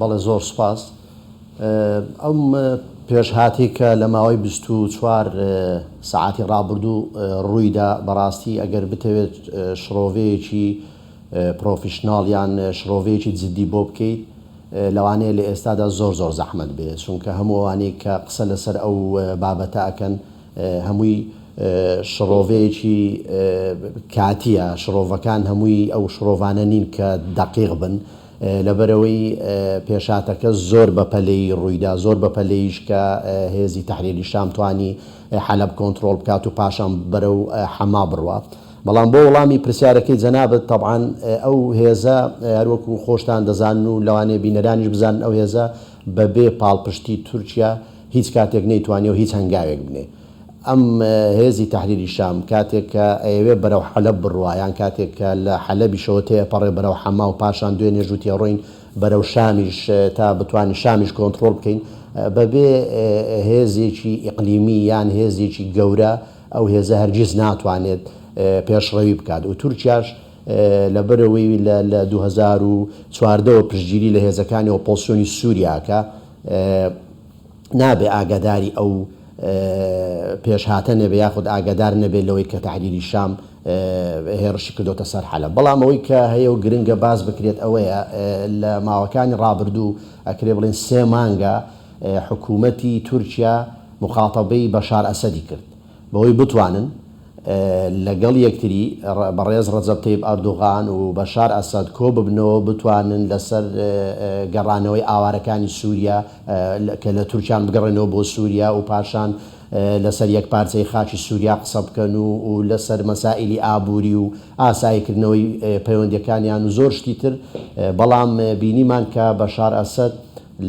بەڵێ زۆر سوپاس. ئەم پێشهاتەی کە لە ماوەی بیست و چوار سەعاتی ڕابردوو ڕوویدا بەڕاستی ئەگەر بتەوێت شڕۆڤەیەکی پرۆفیشناڵ یان شڕۆڤەیەکی جدی بۆ بکەیت لەوانەیە لە ئێستادا زۆر زۆر زەحمەت بێت چونکە هەموو ئەوانەی کە قسە لەسەر ئەو بابەتە ئەکەن هەمووی شڕۆڤەیەکی کاتییە، شڕۆڤەکان هەمووی ئەو شڕۆڤانە نین کە دەقیق بن، لەبەرئەوەی پێشهاتەکە زۆر بە پەلەی ڕوویدا، زۆر بە پەلەیش کە هێزی تەحریری شام توانی حەلەب کۆنتڕۆڵ بکات و پاشان بەرەو حەما بڕوا. بەڵام بۆ وڵامی پرسیارەکەی جەنابت، تەبعەن ئەو هێزە هەر وەکوو خۆشتان دەزانن و لەوانەیە بینەرانیش بزانن ئەو هێزە بەبێ پاڵپشتی تورکیا هیچ کاتێک نەیتوانیەوە هیچ هەنگاوێک بنێ. ئەم هێزی تەحریری شام کاتێک کە ئەیەوێ بەرەو حەلەب بڕوا یان کاتێک کە لە حەلەبیشەوە تێئەپەڕێ بەرەو حەما و پاشان دوێنێ ژوو تێڕۆین بەرەو شامیش تا بتوانین شامیش کۆنتڕۆڵ بکەین بە بێ هێزێکی ئیقلیمی یان هێزێکی گەورە ئەو هێزە هەرگیز ناتوانێت پێشڕەوی بکات و تورکیاش لە بەر ئەوەی لە دوو هەزار و چواردە وە پشتگیری لە هێزەکانی ئۆپۆزسیۆنی سوریا ئەکا نابێ ئاگاداری ئەو پێشهاتە نەبێ یاخود ئاگادار نەبێ لەوەی کە تەحریری شام هێڕشی کردۆتە سەر حەلەب بەڵام ئەوەی کە هەیە و گرنگە باس بکرێت ئەوەیە لە ماوەکانی ڕابردوو ئەکرێ بڵێن سێ مانگە حکوومەتی تورکیا موخاتەبەی بەشار ئەسەدی کرد بەوەی بتوانن لەگەڵ یەکتری بەڕێز ڕەجەب تەیب ئەردۆغان و بەشار ئەسەد کۆببنەوەو بتوانن لەسەر گەڕانەوەی ئاوارەکانی سوریا کە لە تورکیان بگەڕێنەوە بۆ سوریا و پاشان لەسەر یەکپارچەیی خاکی سوریا قسە بکەن و لەسەر مەسائیلی ئابوری و ئاساییکردنەوەی پەیوەندیەکانیان و زۆر شتی تر بەڵام بینیمان کە بەشار ئەسەد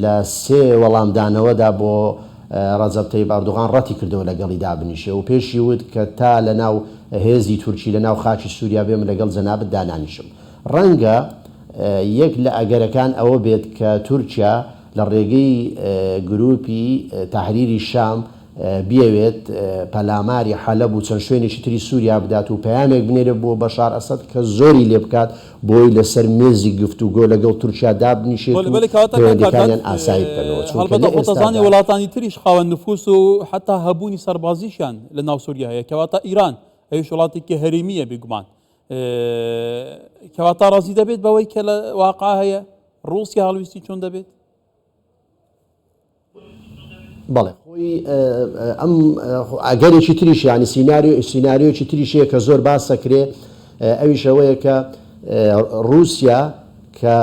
لە سێ وەڵامدانەوەدا بۆ رەجەب تەیب ئەردوغان رەتی کردەوە لەگەڵی دابنیشێ و پێشی وت کە تا لە ناو هێزی تورکی لە ناو خاکی سوریا بێم لەگەڵ جەنابت دانانیشم. رەنگە یەک لە ئەگەرەکان ئەوە بێت کە تورکیا لە رێگەی گروپی تەحریری شام بیەوێت پەلاماری حەلەب و چەند شوێنێکی تری سووریا بدات و پەیامێک بنێرێت بۆ بەشار ئەسەد کە زۆری لێ بکات بۆی لەسەر مێزی گفتوگۆ لەگەڵ تورکیا دابنیشێت و پەیوەندییەکانیان ئاسایی بکەنەوە، چونکە لە ئێستادا. بەڵێ خۆی ئەم ئەگەرێکی تریش یعنی سیناریۆ سیناریۆکی تریشەیە کە زۆر باسەکرێ ئەویش ئەوەیە کە رووسیا کە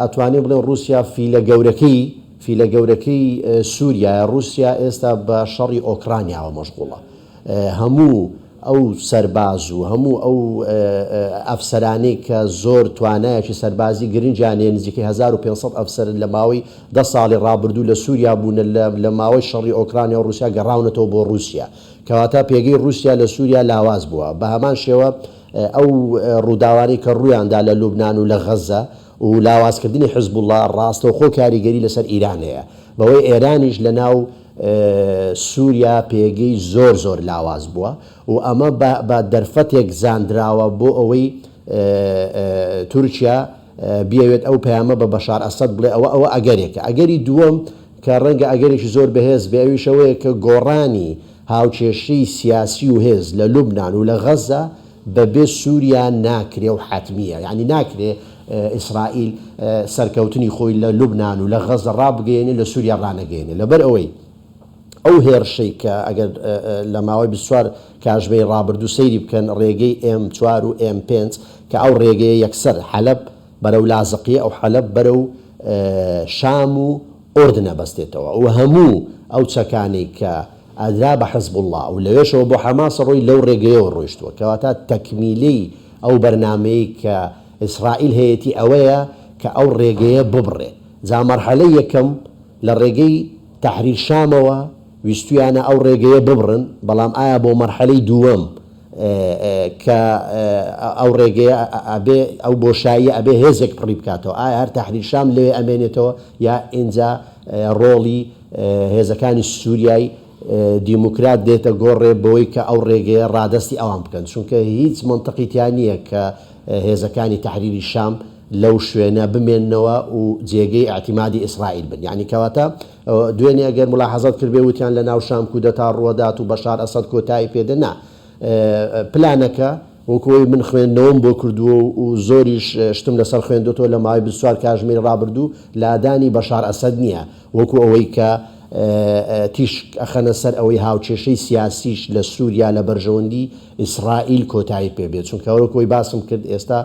ئەتوانێ بڵێ رووسیا فیلە گەورەکەی فیلە گەورەکەی سووریایە رووسیا ئێستا بە شەڕی ئۆکرانیاوە مەشغوڵە هەموو ئەو سەرباز و هەموو ئەو ئەفسەرانەی کە زۆر توانایەکی سەربازی گرنگیان هەیە، نزیکەی هەزار و پێنج سەد ئەفسەر لە ماوەی دە ساڵی ڕابردوو لە سووریا بوونە، لە ماوەی شەڕی ئۆکرانیا و ڕووسیا گەڕاونەتەوە بۆ ڕووسیا، کەواتە پێگەی ڕووسیا لە سووریا لاواز بووە. بە هەمان شێوە ئەو ڕووداوانەی کە ڕوویان دا لە لوبنان و لە غەززە و لاوازکردنی حزبوڵڵا ڕاستەوخۆ کاریگەری لەسەر ئیران هەیە، بەوەی ئێرانیش لەناو. سوریا پێگەی زۆر زۆر لاواز بووە و ئەمە بە دەرفەتێک زانراوە بۆ ئەوەی تورکیا بیەوێت ئەو پەیامە بە بەشار ئەسەد بڵێ ئەوە ئەوە ئەگەرێکە ئەگەری دووەم کە ڕەنگە ئەگەرێکی زۆر بەهێز بێ ئەویش ئەوەیە کە گۆڕانی هاوکێشەی سیاسی و هێز لە لوبنان و لە غەزە بەبێ سوریا ناکرێ و حەتمییە، یانی ناکرێ ئیسرائیل سەرکەوتنی خۆی لە لوبنان و لە غەززە ڕابگەیەنێ لە سوریا ڕانەگەیەنێ لەبەرئەوەی ئەو هێرشەی کە ئەگەر لە ماوەی بیست و چوار کاژمێری ڕابردوو سەیری بکەن ڕێگەی ئێم چوار و ئێم پێنج کە ئەو ڕێگەیە یەکسەر حەلەب بەرەو لازقیە و حەلەب بەرەو شام و ئوردن ئەبەستێتەوە و هەموو ئەو چەکانەی کە ئادرا بە حزبوڵڵا و لەوێشەوە بۆ حەماس ڕووی لەو ڕێگەیەوە ڕۆیشتووە، کەواتە تەکمیلی ئەو بەرنامەی کە ئیسرائیل هەیەتی ئەوەیە کە ئەو ڕێگەیە ببڕێ، جا مەرحەلەی یەکەم لە ڕێگەی تەحریر شامەوە ویستوویانە ئەو ڕێگەیە ببڕن، بەڵام ئایا بۆ مەرحەلەی دووەم کە ئەو ڕێگەیە ئەبێ ئەو بۆشاییە ئەبێ هێزێک پڕی بکاتەوە ئایا هەر تەحریر شام لەوێ ئەمێنێتەوە یا ئینجا ڕۆڵی هێزەکانی سوریای دیموکرات دێتە گۆڕێ بەوەی کە ئەو ڕێگەیە ڕادەستی ئەوان بکەن، چونکە هیچ مەنتقی تیا نییە کە هێزەکانی تەحریری شام لەو شوێنە بمێننەوە و جێگەی ئیعتیمادی ئیسرائیل بن، یەعنی کەواتە دوێنێ ئەگەر مولاحەزەت کردبێ وتیان لەناو شام کودەتا ڕووەدات و بەشار ئەسەد کۆتایی پێ دێت، نا پلانەکە، وەکو ئەوەی من خوێندنەوەم بۆ کردووە و زۆریش شتم لەسەر خوێندۆتەوە لە ماوەی بیست و چوار کاژمێری ڕابردوو لادانی بەشار ئەسەد نییە وەکو ئەوەی کە تیشک ئەخەنە سەر ئەوەی هاوکێشەی سیاسیش لە سوریا لە بەرژەوەندی ئیسرائیل کۆتایی پێ بێت چونکە وەکو ئەوەی باسم کرد ئێستا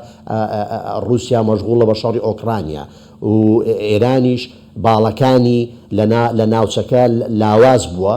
ڕووسیا مەشغوڵە بە شەڕی ئۆکرانیا و ئێرانیش باڵەکانی لە ناوچەکە لاواز بووە.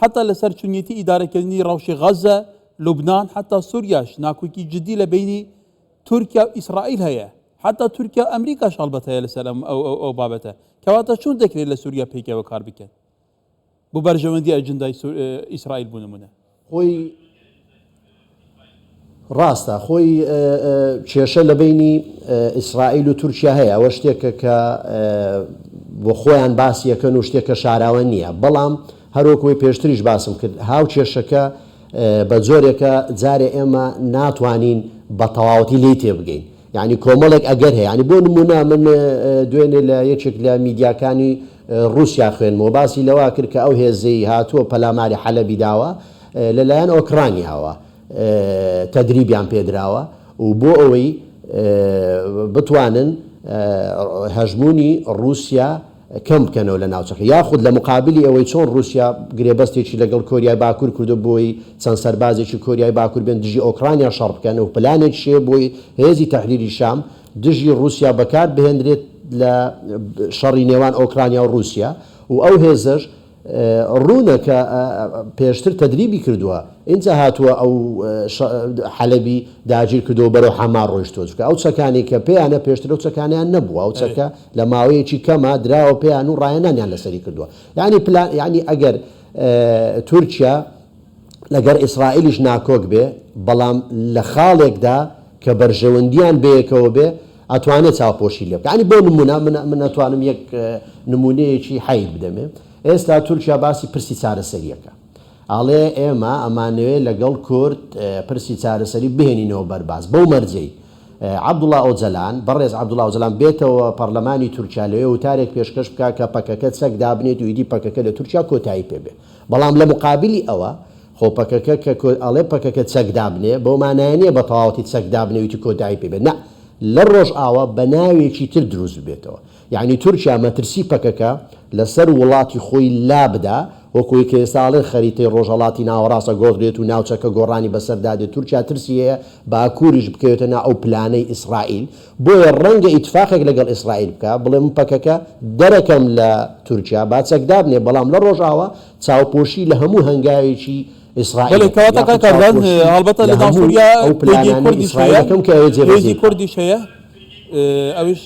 حەتا لە سەر چونیەتی ئیدارەکردنی ڕەوشی غەزە، لوبنان حەتا سوریاش ناکۆکی جدی لە بەینی تورکیا و ئیسرائیل هەیە. حەتا تورکیا و ئەمریکاش هەڵبەت هەیە لە سەر ئەم ئەو ئەو ئەو بابەتە. کەواتە چۆن دەکرێت لە سوریا پێکەوە کار بکەن بۆ بەرژەوەندی ئەجندای سو ئیسرائیل بۆ نمونە. خۆی. ڕاستە خۆی کێشە لە بەینی ئیسرائیل و تورکیا هەیە، ئەوە شتێکە کە بۆ خۆیان باسی ئەکەن و شتێکە شاراوە نییە، بەڵام هەر وەک وەی پێشتریش باسم کرد هاوکێشەکە بە جۆرێکە جارێ ئێمە ناتوانین بە تەواوەتی لێی تێبگەین، یانی کۆمەڵێک ئەگەر هەیە، یانی بۆ نموونە من دوێنێ لە یەکێک لە میدیاکانی ڕووسیا خوێندمەوە باسی لەوە کرد کە ئەو هێزەی هاتووە پەلاماری حەلەبی داوە لە لایەن ئۆکرانیاوە تەدریبیان پێدراوە و بۆ ئەوەی بتوانن هەژموونی ڕووسیا کەم بکەنەوە لە ناوچەکە یاخود لە مقابلی ئەوەی چۆن ڕووسیا گرێبەستێکی لەگەڵ کۆریای باکوور کردووە بۆ ئەوەی چەند سەربازێکی کۆریای باکوور بێن دژی ئۆکرانیا شەڕ بکەن و پلانێکیش هەیە بۆ هێزی تەحریری شام دژی ڕووسیا بەکار بهێندرێت لە شەڕی نێوان ئۆکرانیا و ڕووسیا و ئەو هێزەش ڕوونە کە پێشتر تەدریبی کردووە ئینجا هاتووە ئەو حەلەبی داگیر کردووە و بەرەو حەما ڕۆیشتووە چونکە ئەو چەکانی کە پێیانە پێشتر ئەو چەکانیان نەبووە ئەو چەکە لە ماوەیەکی کەمە دراوە پێیان و ڕایەنانیان لەسەری کردووە یانی پلان یانی ئەگەر تورکیا لەگەر ئیسرائیلیش ناکۆک بێ بەڵام لە خاڵێکدا کە بەرژەوەندیان بەیەکەوە بێ ئەتوانێ چاوپۆشی لێ بکا یانی بۆ نمونە من من ئەتوانم یەک نمونەیەکی حەیت بدەمێ ئێستا تورکیا باسی پرسی چارەسەریەکە ئاڵێ ئێمە ئەمانەوێ لەگەڵ کورد پرسی چارەسەری بهێنینەوە بەرباس بەو مەرجەی عەبدوڵا ئۆجەلان بەڕێز عەبدوڵا ئۆجەلان بێتەوە پەرلەمانی تورکیا لەوێ وتارێک پێشکەش بکا کە پەکەکە چەک دابنێت و ئیدی پەکەکە لە تورکیا کۆتایی پێ بێ بەڵام لە مقابلی ئەوە خۆ پەکەکە کە کۆ ئەڵێ پەکەکە چەک دابنێ بەو مانایە نیە بە تەواوەتی چەک دابنێ و ئیتر کۆتایی پێ بێت نا لە ڕۆژئاوا بە ناوێکی تر دروست ببێتەوە یانی تورکیا مەترسی پەکەکە لە سەر وڵاتی خۆی لا بدا وەک ئەوەی کە ئێستا ئەڵێن خەریتەی ڕۆژهەڵاتی ناوەڕاست ئەگۆڕدرێت و ناوچەکە گۆڕانی بەسەردا دێت تورکیا ترسی هەیە باکوریش بکەوێتە نا ئەو پلانەی ئیسڕائیل بۆیە ڕەنگە ئیتفاقێک لەگەڵ ئیسرائیل بکا، بڵێ من پەکەکە دەرەکەم لە تورکیا، با چەک دابنێ، بەڵام لە ڕۆژاوا چاوپۆشی لە هەموو هەنگاوێکی ئیسرائیل بەڵێ دەکەم، کەواتە یاخود کاکە ڤان چاوپۆشی هەڵبەتە لە لەگەڵ هەموو سوریا ئەو پەیگەی پلانانەی کوردیش هەیە، ئیسرائیل دەکەم کە ئەوێ جێبەجێی پەیگەی بکا. کوردیش هەیە، ئەویش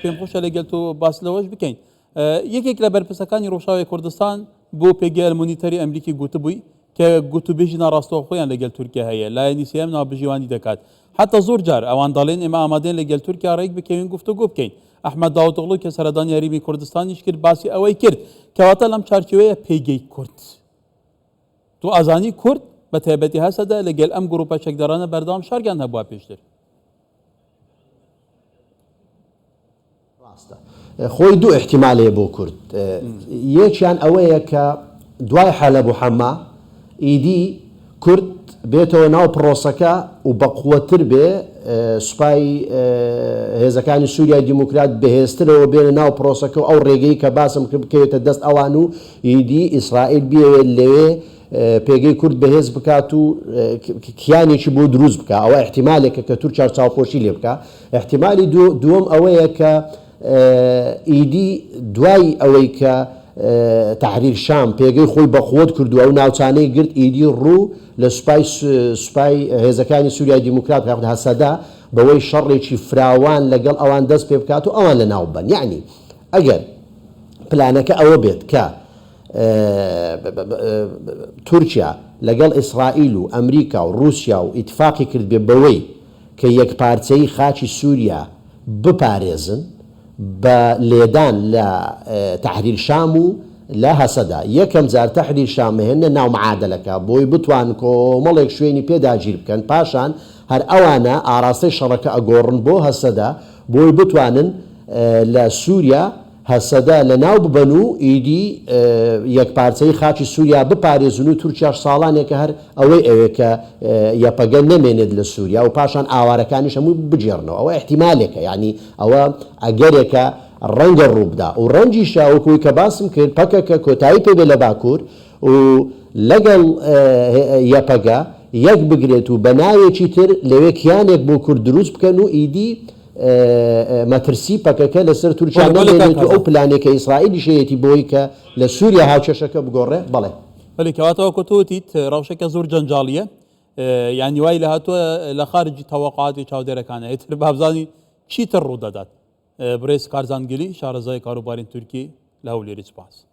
پێمخۆشە لەگەل تۆ باس لەوەش بکەین. یەکێک لە بەرپرسەکانی ڕووشاوی کوردستان بۆ پێگەی ئەلمۆنیتەری ئەمریکی گوتبووی کە گوتوبێژی ناڕاستەوخۆیان لەگەل تورکیا هەیە لایەنی سێیەم ناوبژیوانی دەکات حتا زۆر جار ئەوان دەڵێن ئێمە ئامادەین لەگەل تورکیا ڕێک بکەوین گفتوگۆ بکەین ئەحمەد داوتغڵو کە سەردانی هەریمی کوردستانیش کرد باسی ئەوەی کرد کەواتە لەم چارچێوەیە پێگەی کورد تو ئازانی کورد بە تایبەتی هەسەدە لەگەل ئەم گروپە چەکدارانە بەردەوام شەڕیان هەبووە پێشتر ڕاستە خۆی دوو ئیحتیمال هەیە بۆ کورد یەکیان ئەوەیە کە دوای حەلەب و حەما ئیدی کورد بێتەوە ناو پڕۆسەکە و بەقوەتتر بێ سوپای هێزەکانی سوریای دیموکرات بەهێزترەوە بێنە ناو پڕۆسەکە و ئەو ڕێگەی کە باسم کرد بکەوێتە دەست ئەوان و ئیدی ئیسرائیل بیەوێت لەوێ پێگەی کورد بەهێز بکات و کیانێکی بۆ دروست بکات ئەوە ئیحتیمالێکە کە تورکیا چاوپۆشی لێ بکات ئیحتیمالی دووەم ئەوەیە کە ئیدی دوای ئەوەی کە تەحریر شام پێگەی خۆی بەقوەت کرد و ئەو ناوچانەی گرت ئیدی ڕوو لە سوپای سوپای هێزەکانی سوریای دیموکرات بکات یاخود هەسەدە بەوەی شەڕێکی فراوان لەگەڵ ئەوان دەست پێ بکات و ئەوان لەناو ببەن یەعنی ئەگەر پلانەکە ئەوە بێت کە تورکیا لەگەڵ ئیسرائیل و ئەمریکا و ڕووسیا و ئیتفاقی کردبێ بەوەی کە یەکپارچەیی خاکی سوریا بپارێزن بە لێدان لە تەحریر شام و لە هەسەدە یەکەم جار تەحریر شام مهێننە ناو معادەلەکە بۆی بتوان کۆمەڵێک شوێنی پێ داگیر بکەن پاشان هەر ئەوانە ئاراستەی شەڕەکە ئەگۆڕن بۆ هەسەدە بۆی بتوانن لە سوریا هەسەدە لەناو ببەن و ئیدی یەکپارچەیی خاکی سووریا بپارێزن و تورکیاش ساڵانێکە هەر ئەوەی ئەوێت کە یەپەگە نەمێنێت لە سووریا و پاشان ئاوارەکانیش هەمووی بگێڕنەوە ئەوە ئیحتیمالێکە یەعنی ئەوە ئەگەرێکە ڕەنگە ڕووبدا و ڕەنگیشە وەکو ئەوەی کە باسم کرد پەکەکە کۆتایی پێبێت لە باکوور و لەگەڵ یەپەگە یەکبگرێت و بە ناوێکی تر لەوێ کیانێک بۆ کورد دروست بکەن و ئیدی مەترسی پەکەکە لەسەر تورکیا نەمێنێت و ئەو پلانەی کە ئیسرائیلیش هەیەتی بۆی کە لە سوریا هاوکێشەکە بگۆڕێ، بەڵێ. بەلی کەواتە وەکو تۆ وتیت رەوشەکە زۆر جەنجاڵیە یانی وای لە هاتوە لە خارجی تەوەقاتی چاودێرەکانە ئیتر بابزانی چیتر روودەدات بریز کارزان گلی شارەزای کاروبارین تورکی لە هەولێری سپاس.